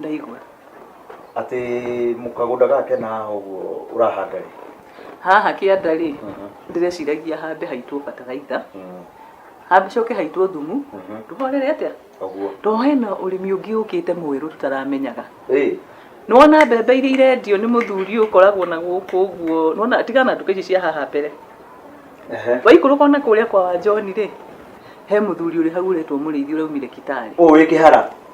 ndaigua. Atĩ mũkagũnda gake na haha ũguo ũrahanda rĩ? Haha kĩanda rĩ, ndĩreciragia hambe haitwo bataraitha, hacoke haitwo thumu, tũhorere atĩa? Tondũ hena ũrĩmi ũngĩ ũkĩte mwerũ tũtaramenyaga. Nĩwona mbembe iria irendio nĩ mũthuri ũyũ ũkoragwo na gũkũ ũguo, nĩwona tigana na nduka ici cia haha mbere, waikũrũka ona kũrĩa kwa wa John rĩ, he mũthuri ũrĩ hau ũretwo Mũrĩithi ũraumire Kitale. Ũyũ wĩ kĩhara?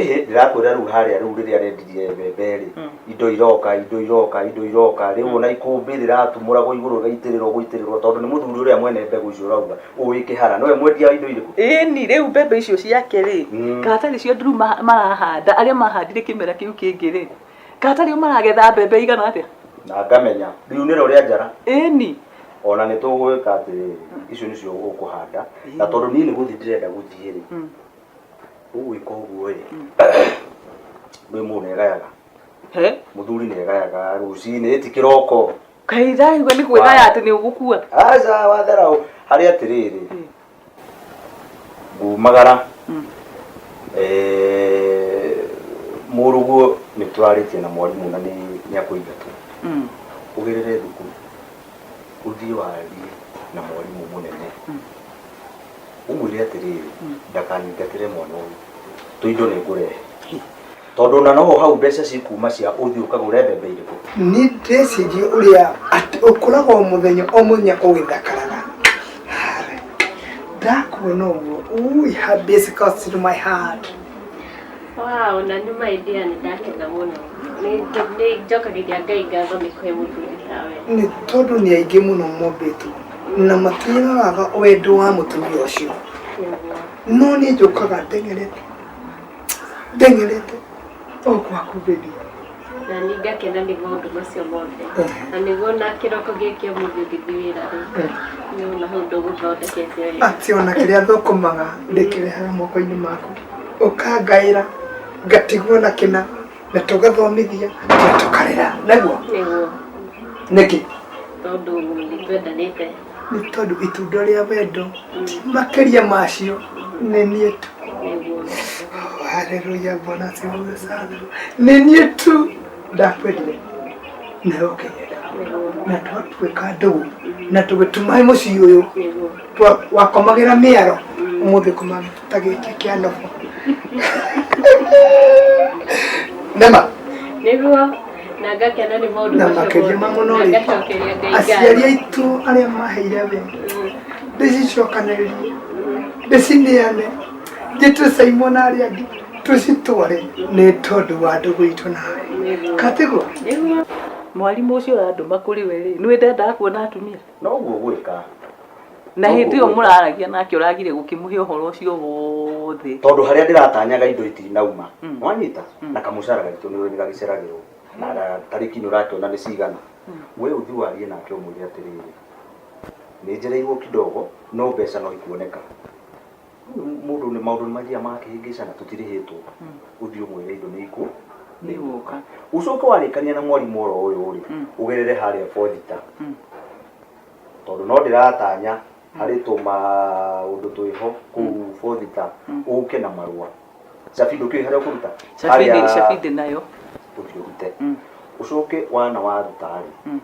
ĩhĩ ndĩrakwĩra rĩu harĩa rĩu rĩrĩa rendirie mbembe rĩ Mm. indo iroka indo iroka indo iroka rĩu ona ikũmbĩ rĩratumũragwo igũrũ rĩgaitĩrĩrwo gũitĩrĩrwo tondũ nĩ mũthuri ũrĩa mwene mbegũ icio ũrauga ũĩ kĩhara nĩwe mwendia wa indo irĩkũ ĩni rĩu mbembe icio ciake rĩ Mm. kata nĩcio nduru ma- marahanda arĩa mahandire kĩmera kĩu kĩngĩ rĩ kata rĩu maragetha mbembe igana atĩa na ngamenya rĩu nĩro rĩa njara ĩni ona nĩ tũgwĩka atĩ icio nĩcio ũkũhanda na tondũ niĩ nĩ gũthiĩ ndĩrenda gũthiĩ rĩ Mm. ũgwĩka ũguo ĩ ndũĩ mũndũ nĩ egayaga He? mũthuri nĩ egayaga rũcinĩ ĩti kĩroko kaĩ iraigua nĩ kwĩgaya atĩ nĩ ũgũkua aca wathera ũ- harĩ atĩrĩrĩ ngumagara eh, mũrũguo nĩ tũrarĩtie na mwarimũ na nĩ- nĩ akũingatwo Mm. ũgerere thukuru ũthiĩ warie na mwarimũ mũnene ũmwĩre atĩrĩrĩ ndakaningatĩre mwana ũyũ tũindo nĩ ngũrehe tondũ na no hau mbeca cikuma cia ũthiĩ ũkagũre mbembe irĩkũ nĩ ndĩreciria ũrĩa atĩ ũkũraga o mũthenya o mũthenya ũgĩthakaraga Harĩ. ndakuona ũguo ui habis comes to my heart Wow, na nĩ my dear nĩ ndakena mũno. Nĩ nĩ njokagĩria Ngai ngatho nĩ kũhe mũthuri tawe. nĩ tondũ nĩ aingĩ mũno mombĩtwo na matiagaga wendo wa mũtumia ũcio no niĩ njũkaga ndengerete ndengerete o gwaku bebi na nĩ ngakena nĩ maũndũ macio mothe na nĩguo na kĩroko gĩkĩ mũndũ ngĩthi wĩra rĩ nĩ ũna ũndũ gũthondekete wega ati ona kĩrĩa thũkũmaga ndĩkĩrehaga moko-inĩ maku ũkangaĩra ngatigwo na kĩna na tũgathomithia na tũkarera naguo nĩkĩ tondũ nĩtwendanĩte nĩ tondũ itunda rĩa wendo makĩria macio nĩ niĩ tu haleluya bwana siwe sana nĩ niĩ tu ndakwendire na ũkĩnyenda na twatuĩka ndũgũ na tũgĩtumaĩ mũciĩ ũyũ twakomagĩra mĩaro ũmũthĩ kũmagĩra ta gĩkĩ kĩa nobo nema nĩguo na ngakena nĩ maũndũ na makĩria ma mũno rĩ aciari aitũ arĩa maheire we mm. ndĩcicokanĩrĩrie ndĩcineane njĩtwe Simon arĩa angĩ tũcitware nĩ tondũ wa ndũgũ itũ nawe katĩgũ mwarimũ ũcio ũrandũma kũrĩ we rĩ nĩ wendaga kuona atumia na ũguo gwĩka na No hĩndĩ ĩyo gũgwĩka. mũraragia nake ũragire gũkĩmũhe ũhoro ũcio wothe tondå harä a ndä ratanyaga indo itinauma Mm. wanyita Mm. na kamũcara gaitå nä nä gagäceragärwo na tarä ki nä å rakäona nä cigana we å thi warie nake å mwä re atä rä rä nä njereirwo kidogo no mbeca no ikuoneka Mũndũ nĩ maũndũ nĩ mathiaga magakĩhĩngĩcana tũtirĩhĩtwo. Ũthiĩ ũmwĩre indo nĩ ikũ nĩ igũka. Ũcoke warĩkania na mwarimũ oro ũyũ rĩ, ũgerere harĩa Fodita. Tondũ no ndĩratanya harĩ tũmaũndũ twĩho kũu Fodita ũke na marũa. cabi ndũkĩũĩ harĩa ũkũruta Cabi ndĩ- cabi ndĩ nayo ũthiĩ ũrute Mm. ũcoke wana waruta rĩ Mm.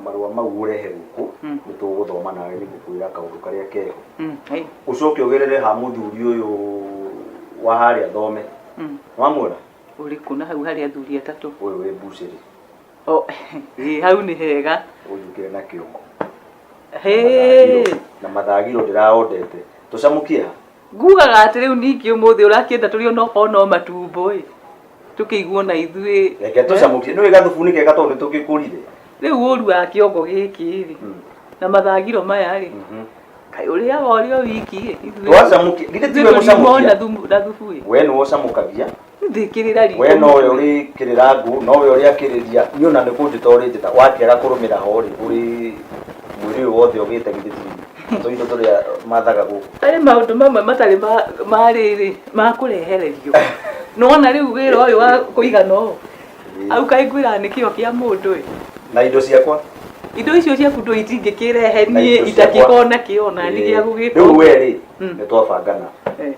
marũa mau ũrehe gũkũ Mm. nĩ tũgũthoma nawe nĩ ngũkwĩra kaũndũ karĩa keho Mm, hey, ũcoke ũgerere ha mũthuri ũyũ wa harĩa thome mm. wamuona ũrĩkũ na hau harĩ athuri atatũ ũyũ wĩ mbucĩrĩ O, ĩ, hau nĩ hega ũnjũkĩre na kĩongo Hĩ. na mathagiro ndĩraondete tũcamũkie ha Ngugaga atĩ rĩu ningĩ ũmũthĩ ũrakĩenda tũrĩ ona okorwo no matumbo ĩ tũkĩiguo na ithuĩ Reke eh? tũcamũkie. Nĩũĩ gathubu nĩ kega tondũ nĩtũgĩkũrire. rĩu ũru wa kĩongo gĩkĩ rĩ Mm. na mathagiro maya rĩ Mhm. kaĩ ũrĩaga ũrĩ o wiki ĩ ithuĩ Twacamũkia. Githĩ ithuĩ tiwe tũriuma mũcamũkia? na thumu- na thubu ĩ We nĩwe ũcamũkagia. ndingĩrĩra riko we nowe ũrĩkĩrĩra ngũ nowe ũrĩakĩrĩria niĩ ona nĩ kũnjĩta ũrĩnjĩta wakĩaga kũrũmĩra ho rĩ ũrĩ mwĩrĩ ũyũ wothe ũgĩte githĩ ti tũ indo tũrĩa mathaga gũkũ harĩ maũndũ mamwe matarĩ ma- ma rĩrĩ ma kũrehererio nona rĩu wĩra ũyũ wa kũigana ũũ au kaĩ ngwĩraga nĩ kĩo kĩa mũndũ ĩ na indo ciakwa indo icio ciaku ndũ itingĩkĩrehe na niĩ indo ciakwa. itakĩkona kĩo na nĩ gĩa Ĩĩ. gũgĩka rĩu we rĩ Mm. nĩ twabangana Eh.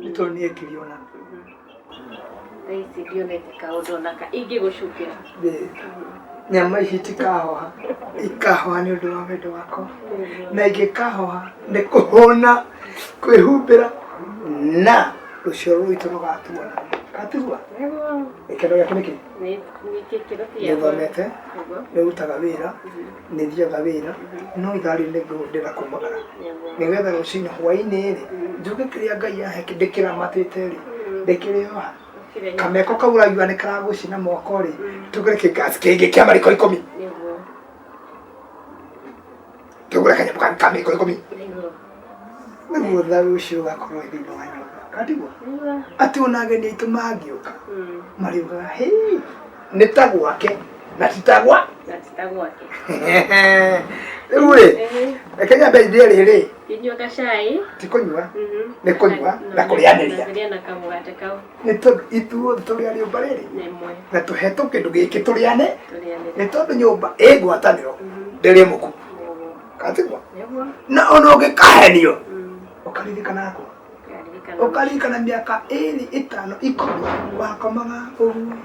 nĩ tondũ nĩ ekiri ona thaa ici ndionete kaũndũ onaka ingĩgũcukĩra nyama ici itikahoha ikahoha nĩ ũndũ wa wendo wakwa na ingĩkahoha nĩ kũhũna kwĩhumbĩra na rũciaro rwitũ rũgatuona gatigua gĩkeno gĩaku nĩkĩ nĩthomete nĩrutaga wĩra nĩ thiaga wĩra no ithaa rĩu nĩ ngũhũthĩra kũmagara nĩgetha rũcinĩ hwainĩ rĩ njuge kĩrĩa Ngai ahe ndĩkĩramatĩte rĩ ndĩkĩrĩ oha kameko kau ũraigua nĩ karagũcina moko rĩ tũgũre kĩngasi kĩngĩ kĩa mariko ikũmi tũgũre kanyamũ ka mariko ikũmi nĩguo thayũ ũcio ũgakorwo thĩinĩ wa nyũmba katigwa atĩ ona ageni aitũ mangĩũka mm. marĩugaga hĩ nĩ ta gwake na ti ta gwa rĩu rĩ reke nyambe ithie rĩrĩ ti kũnyua mhm. nĩ kũnyua na kũrĩanĩria nĩ tondũ ithuothe tũrĩ a rĩũmba rĩrĩ na tũhetwo kĩndũ gĩkĩ tũrĩane nĩ tondũ nyũmba ĩ ngwatanĩro mhm. ndĩrĩ mũku katigwa na ona ũngĩkahenio mm. ũkaririkana yakwa ũkaririkana mĩaka ĩrĩ ĩtano ikũmi wakomaga ũguo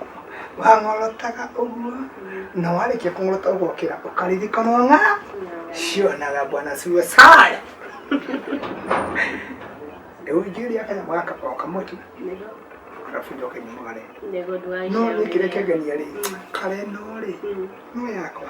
wang'orotaga ũguo mm. na warĩkia kũng'orota ũgokĩra ũkaririkana ng'a cionaga bwana siwe saya rĩu njĩria kanyamũ gaka o kamwe tu arabu njoke nyumagare no nĩ kĩrĩa kĩangenia rĩ mm. kare no rĩ no yakwa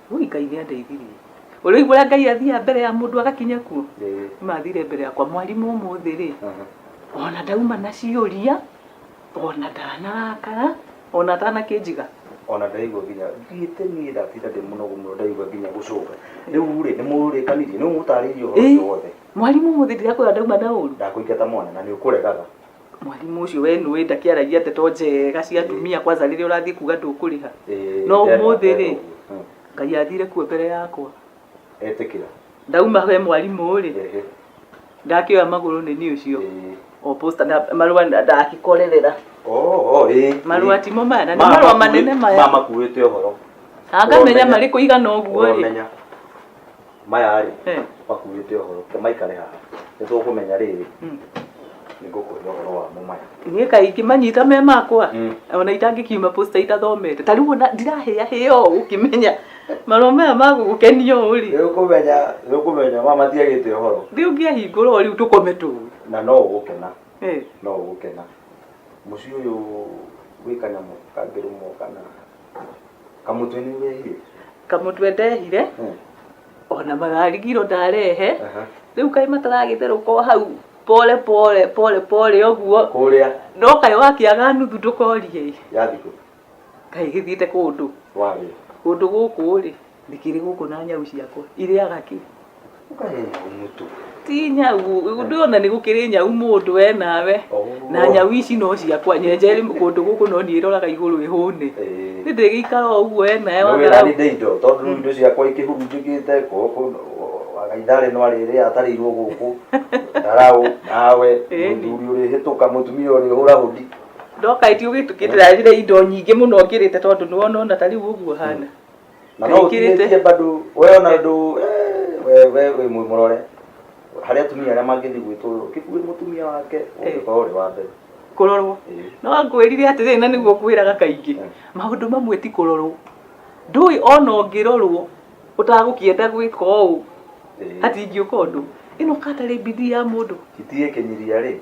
Ui Ngai nĩ andeithirie. Ũrĩu ũrĩa Ngai athiaga mbere ya mũndũ agakinya kuo. Ĩĩ. Mathire mbere yakwa mwarimũ ũmũthĩ rĩ. Aha. Ona ndauma na ciũria, ona ndanarakara, ona atanakĩnjiga. Ona ndaigua nginya thiĩte niĩ ndatinda ndĩ mũnogu mũno ndaigua nginya gũcũnga. Rĩu rĩ, nĩ mũrĩkanirie? Nĩ ũmũtarĩirie ũhoro Ĩĩ. ũcio wothe? Mwarimũ ũmũthĩ ndirakwĩra ndauma na ũru. Ndakũingata mwana na nĩ ũkũregaga. mwarimũ ũcio we nũĩ ndakĩaragia ndeto njega cia atumia kwanza rĩrĩa ũrathiĩ kuga ndũkũrĩha Eh, no ndera- ũmũthĩ rĩ ndera- Mm. ngai athire kuo mbere yakwa etĩkĩra ndauma he mwarimũ rĩ Ehe. ndakĩoya magũrũ nĩ niĩ ũcio Eh. o posta na marũa na- ndakĩkorerera Oh, oh, eh, marũa eh. timo maya na nĩ Ma- marũa makuĩ- manene ma maya makuĩte ũhoro ngamenya Wamenya. marĩ kũigana ũguo rĩ Wamenya. maya rĩ Eh. makuĩte ũhoro ke maikare haha nĩ tũkũmenya rĩrĩ Mm. nĩ ngũkwĩra ũhoro wamo maya niä kaingä manyita me makwa Mm. ona itangäkiuma posta itathomete ta rä u ona ndirahä ahä o gå kä menya marå maya magå gå kenia å rä nĩ ũkũmenya nĩ ũkũmenya mama matiagĩte ũhoro rä u ngä ahingå rwo rä u tå kome tå na no ũgũkena no ũgũkena mũciĩ ũyũ gwĩ kanyamũ kangĩrũmwo kana Kamũtwe nĩ nyehire. kamũtwe ndehire Eh, ona mararigirwo ndarehe aha. rĩu kaĩ mataragĩtherũka o hau pole pole pole pole ũguo Kũrĩa no kaĩ wakĩaga nuthu ndũkorie ĩ. ya thikũ kaĩ gĩthiĩte kũndũ warĩa. kũndũ gũkũ rĩ ndĩkĩrĩ gũkũ na nyau ciakwa irĩaga kĩ Ũkarĩa nyau mũtu. ti nyau ndona nĩ gũkĩrĩ nyau mũndũ we nawe Oh. na nyau ici no ciakwa nyenje rĩ kũndũ gũkũ no niĩ roraga igũrũ ĩhũne Ĩĩ. nĩ ndĩgĩikara o ũguo we nawe Nĩ wĩra wathara nĩ ndĩ indo tondũ rĩu indo ciakwa ikĩhurunjĩkĩte gũkũ waga ithaa rĩno arĩrĩ atarĩirwo gũkũ ndaraũ nawe Ĩĩ. mũthuri ũrĩhĩtũka mũtumia ũrĩhũra hũndi ndoka ĩti ũgĩtukĩtĩra njĩra indo nyingĩ mũno ngĩrĩte tondũ nĩwona ona ta rĩu ũguo hana na no utinĩtie bado we ona ndu we we we mwe murore haria atumia aria mangithi gwitwo kibue mutumia wake ungikorwo ri wa mbere kurorwo no ngwirire atiriri na niguo ngwiraga kaingi maundu mamwe ti kurorwo ndui ona ungirorwo utagukienda gwika uu ati ingiuka undu ino katari bidii ya mundu itie kinyiria ri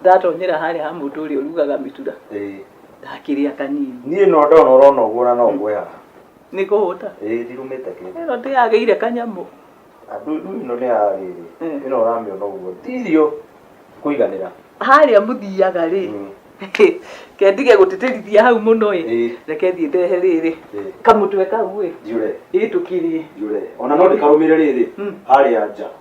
ndatonyera harĩa ha mũndũ ũrĩa ũrugaga mĩtura ĩĩ ndakĩrĩa kanini niĩ no ndona ũrona ũguo na no ngwe haha nĩ kũhũta ĩĩ ndirumĩte kĩndũ ĩno ndĩyagĩire kanyamũ andũ rĩu ĩno nĩ ya rĩrĩ Mm. ĩno ũramĩona ũguo ti irio kũiganĩra harĩa mũthiaga rĩ Mm. kendige gũtĩtĩrithia hau mũno ĩ Ĩĩ. reke thiĩ ndehe rĩrĩ Ĩĩ. kamũtwe kau ĩ njure ĩĩ tũkĩrĩe njure ona no ndĩkarũmĩre rĩrĩ Mm. harĩa nja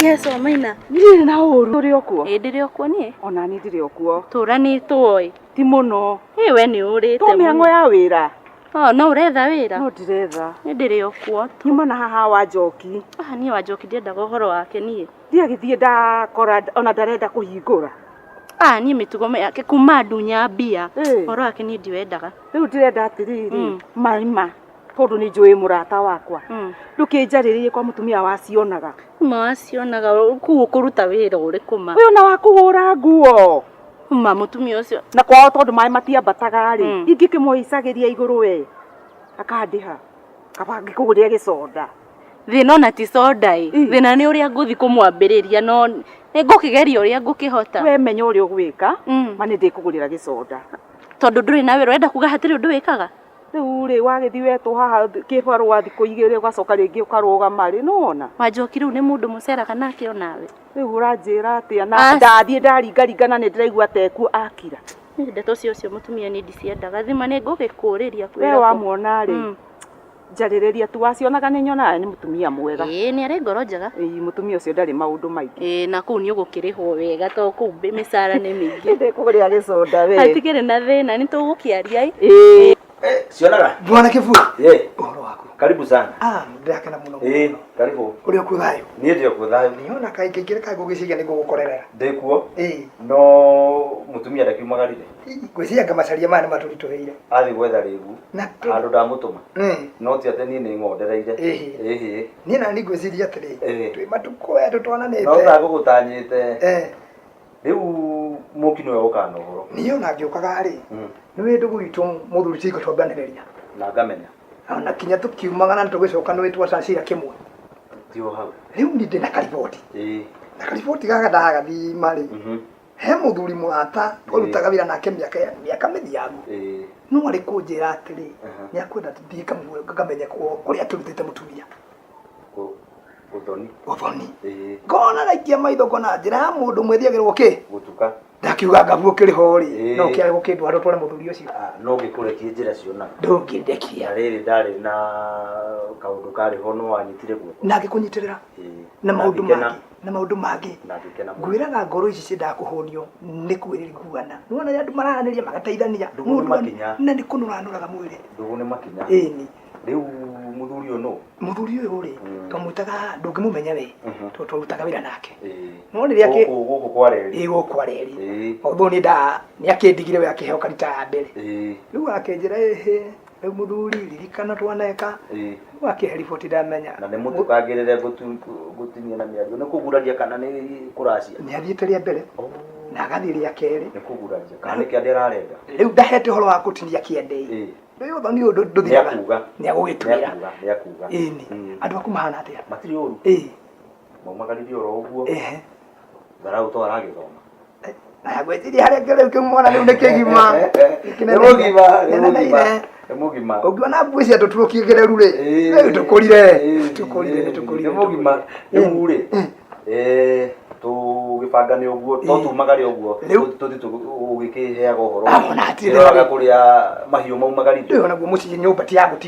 Yes, wa maina. Ndirĩ na ũru. Tũrĩ o kuo. Ĩ ndĩrĩ o kuo niĩ. Ona niĩ ndirĩ o kuo. Tũranĩtwo ĩ. Ti mũno. Ĩ we nĩ ũrĩte mũno. Tũ mĩhang'o ya wĩra. Oh, no ũretha wĩra? No ndiretha. Nĩ ndĩrĩ o kuo. Nyuma na haha wa njoki. Ah, niĩ wa njoki ndiendaga ũhoro wake niĩ. Ndiagĩthiĩ ndakora ona ndarenda kũhingũra. Ah, niĩ mĩtugo yake kuma ndunya mbia. Ũhoro wake niĩ ndiwendaga. Rĩu ndĩrenda atĩrĩrĩ, maima. tondũ nĩ njũĩ mũrata wakwa Mm. ndũkĩnjarĩrĩirie kwa mũtumia wacionaga ma wacionaga kuu ũkũruta wĩra ũrĩkũ ma ũyũ na wakũhũra nguo ma mũtumia ũcio na kwao tondũ maĩ matiambataga rĩ Mm. ingĩkĩmoicagĩria igũrũ we akandĩha kaba ngĩkũgũrĩre gĩconda thĩna ona ti soda ĩ Mm. thĩna nĩ ũrĩa ngũthi kũmwambĩrĩria no nĩ ngũkĩgeria ũrĩa ngũkĩhota we menya ũrĩa ũgwĩka Mm. ma nĩ ndĩkũgũrĩra gĩconda tondũ ndũrĩ na wĩra ũrenda kuga hatirĩ ũndũ wĩkaga Rĩu rĩ wagĩthiĩ wetwo haha kĩbarũa thikũ igĩrĩ ũgacoka rĩngĩ ũkarũgama rĩ nĩwona Ma Njoki rĩu nĩ mũndũ mũceraga nake onawe? Rĩu ũranjĩra atĩa na As- ndathiĩ ndaringaringa na nĩndĩraigua ta ekuo akira. Niĩ ndeto cia ũcio mũtumia niĩ ndiciendaga. Thima nĩ ngũgĩkũrĩria kwĩra We kũ. wamuona rĩ Mm. njarĩrĩria tu wacionaga nĩnyonaga nĩ mũtumia mwega. Ĩĩ nĩ arĩ ngoro njega. Ĩĩ mũtumia ũcio ndarĩ maũndũ maingĩ. Ĩĩ na kũu nĩ ũgũkĩrĩhwo wega to kũu mbĩ- mĩcara nĩ mĩingĩ Ĩndĩ kũrĩa gĩconda we hatikĩrĩ na thĩna nĩ tũgũkĩaria ĩ Ĩĩ. Eh, cionaga Bwana Kiburi, Eh, ũhoro waku? karibu sana Ah, ndĩrakena mũno Eh, mũno. karibu Ũrĩ okuo thayũ? niä ndä kuo thayå Niona kaĩ kaingĩ kaĩ ngũgĩciria nĩ ngũgũkorerera. ndä kuo Ĩĩ, no må tumia ndakiumagarire ngwĩciria ngamacaria maya nĩ matũritũhĩire. athiä gwetha rä gu Na handå ndamå tå ma Ĩĩ, no ti atä niä nä ngondereire Ĩhĩ. ĩhä niĩ nani ngwĩciria atĩrĩ Eh. twĩ matukũ aya no tũtwananĩte ta ngũgũtanyĩte Eh, rĩu mũki nĩwe ũkana ũhoro niĩ ona ngĩũkaga rĩ Mm. nĩ wĩndũ gwitũ mũthuri cingo twambanĩrĩria na ngamenya na kinya tũkiumaga na tũgĩcoka nĩ wĩtwa cacira kĩmwe tio hau rĩu nĩ ndĩ na kariboti ĩĩ na kariboti gaka ndagathima rĩ Mhm. he mũthuri mũrata twarutaga wĩra nake mĩaka ya- mĩaka mĩthiangu Eh, no arĩ kũnjĩra atĩrĩ Aha. nĩ akwenda tũthiĩ kamwe ngamenye kũ- kũrĩa akĩrutĩte mũtumia gu- guthoni. ũthoni Eh, ngona raikia maitho ngona njĩra ya mũndũ mwĩthiagĩrwo kĩ gutuka. ndakiuga ngabu ũkĩrĩ ho rĩ Ĩĩ. no kĩarĩ gũkĩndwara ũtware mũthuri ũcio Ah, no ngĩkũretie njĩra ciona. ndũngĩndekia Na rĩrĩ ndarĩ na kaũndũ karĩ ho no wanyitire guoko. na ngĩkũnyitĩrĩra Eh, na maũndũ ngĩkena. mangĩ na maundu mangi na ngĩkena mũno ngwĩraga ngoro ici ciendaga kũhũnio nĩ kwĩrĩ nguana nĩwona rĩa andũ marahanĩria magateithania Ndũgũ nĩ Mũndũ wa- makinya. na nĩ kũnũranũraga mwĩrĩ ndũgũ nĩ makinya ĩni rĩu mũthuri ũyũ nũ mũthuri ũyũ rĩ Mm. twamwĩtaga ndũngĩmũmenya we Mhm. tondũ twarutaga wĩra nake No rĩrĩa kĩ- gũkũ gũkũ kwa reri ĩĩ gũkũ areri Ĩĩ. ũthũ nĩ nda nĩ akĩndigire we akĩheo karita ya mbere ĩĩ rĩu akenjĩra ĩhĩ rĩu mũthuri ririkana twaneka Ĩĩ. rĩu akĩhe riboti ndamenya na nĩ mũtũkangĩrĩre gũtu- gũtinia na mĩario nĩ kũguraria kana nĩ kũracia nĩ athiĩte rĩa mbere na agathiĩ rĩa kerĩ nĩ kũguraria kana nĩ kĩande ararenda rĩu ndahete ũhoro wa gũtinia kĩande-ĩ Ĩĩ. rĩu ũthoni ũyũ ndũ- ndũthiraga Nĩakuga. nĩ agũgĩtwĩra nĩakuga nĩakuga ĩni Mm. andũ aku mahana atĩa matirĩ ũru ĩĩ maumagaririe oro ũguo ehe tharaũ to aragĩthoma nagwĩciria harĩa kĩrĩu kĩu mwana rĩu nĩ kĩgima nĩ mũgima nĩ mũgima nĩ mũgima ũngĩona mbuĩ cia tũturo kĩgereru rĩ rĩu tũkũrire tũkũrire nĩ tũkũrire nĩ mũgima rĩu rĩ eh, tũgĩbanga nĩ ũguo to tumaga rĩ ũguo tũthi tũgĩkĩheaga ũhoro ũroraga kũrĩa mahiũ maumaga rĩ rĩu naguo mũciĩ nyũmba ti ya gũti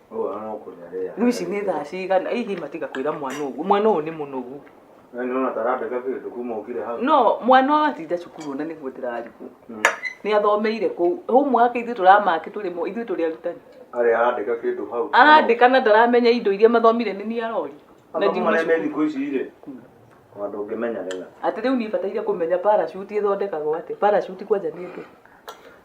rĩu ici nĩ thaa cigana hihi matiga kwĩra mwana ũguo mwana ũyũ nĩ mũnogu no mwana ũyũ atinda cukuru ona nĩguo ndĩrarigwo hmm. nĩ athomeire kũu homework ithuĩ tũramake tũrĩ mo ithuĩ tũrĩ arutani arandĩka na ndaramenya indo iria mathomire nĩ niĩ arori na thikũ ici rĩ hmm. tondũ ũngĩmenya rĩna atĩ rĩu niĩ bataire kũmenya parachute ĩthondekagwo atĩ parachute kwanja nĩ ndũ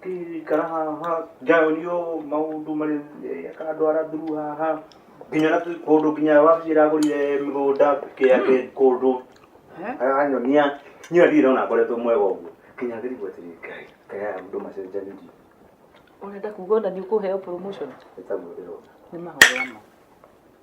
Ikara haha, njaũrio maũndũ marĩ aka andũ ara thuru haha. Nginya na tũ- kũndũ nginya wabici ĩragũrire mĩgũnda kĩa kĩ kũndũ. Aranyonia, niĩ ona ndirĩ ndona ngoretwo mwega ũguo. Nginya ngĩrigwo atĩrĩ Ngai, Ngai aya andũ macenjanirie. Ũrenda kuga ona nĩ ũkũheo promotion? Nĩ taguo ndĩrona. Nĩ mahoya ma.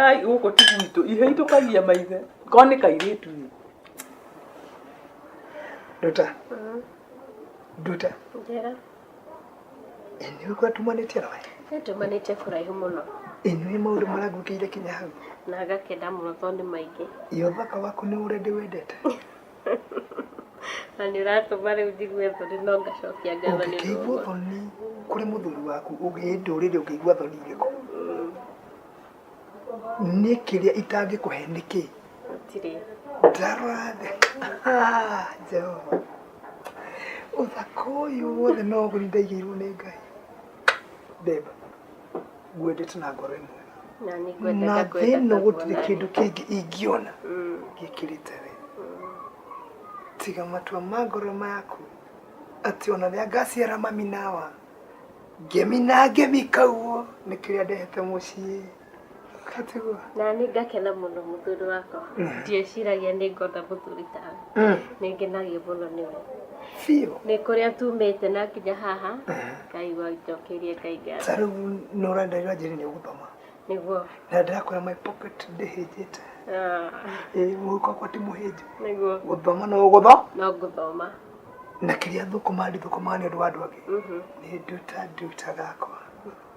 Ai, gũkũ ti gwitũ. Ihĩ itũkagia maithe. Ko nĩ kairĩtu ĩ. Nduta. Nduta. Njĩra. Ĩ, nĩ ũguo tumanĩtie na we? Nĩ tumanĩtie kũraihu mũno. Ĩ, nĩ maũndũ marangũkĩire kinya hau. Na agakenda mũno tondũ nĩ maingĩ. Ĩ, ũthaka waku nĩ ũrĩa ndĩwendete. na nä å ratåma rä u njigue thoni no ngacokia ngatho nä ũngĩkĩigua thoni kũrĩ mũthuri waku ũgĩe ndũrĩrĩ ũngĩigua thoni irĩkũ nĩ kĩrĩa itangĩkũhe nĩ kĩ gũtirĩ ndarora thĩ Ah, jehova ũthaka ũyũ wothe no ũgũri ndaigĩirwo nĩ ngai beba ngwendete na ngoro ĩmwe na nĩ na ngwenda thĩno ndakwenda gũtirĩ kĩndũ kĩngĩ ingĩona gĩkĩrĩte we tiga matua ma ngoro maku atĩ ona rĩa ngaciara mami nawa ngemi na ngemi kauo nĩ kĩrĩa ndehete mũciĩ na nĩ ngakena mũno mũthuri wakwa ndieciragia nĩ ngona mũthuri tawe nĩ ngenagio mũno nĩwe biũ nĩ kũrĩa tumĩte na nginya haha ngaigua njokeirie ngai ngatho ta rĩu nĩ ũrenda rĩu anjĩrĩ nĩ ũgũthoma nĩguo na ndĩrakwĩra my pocket ndĩhĩnjĩte Ah, ĩ mũhuko wakwa ti mũhĩnju nĩguo gũthoma no gũtho no ngũthoma na kĩrĩa thũkũma ndithũkũmaga nĩ ũndũ wa andũ angĩ Mhm. nĩ nduta nduta gakwa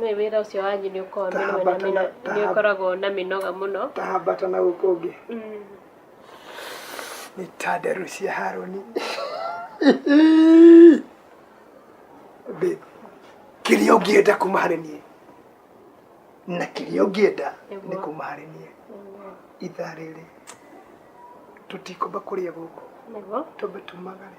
Nĩ wĩra ũcio wanyu nĩ ũkoragwo mĩnoga na Tahambata na- mĩnoga, nĩ ũkoragwo na mĩnoga mũno. Tahambata na gũkũ ũngĩ Mm. nĩ ta nderu cia Haruni. Babe, kĩrĩa ũngĩenda kuma harĩ niĩ na kĩrĩa ũngĩenda nĩ Nĩguo. kuma harĩ niĩ ithaa rĩrĩ tũtikũmba kũrĩa gũkũ Nĩguo. twambe tumagare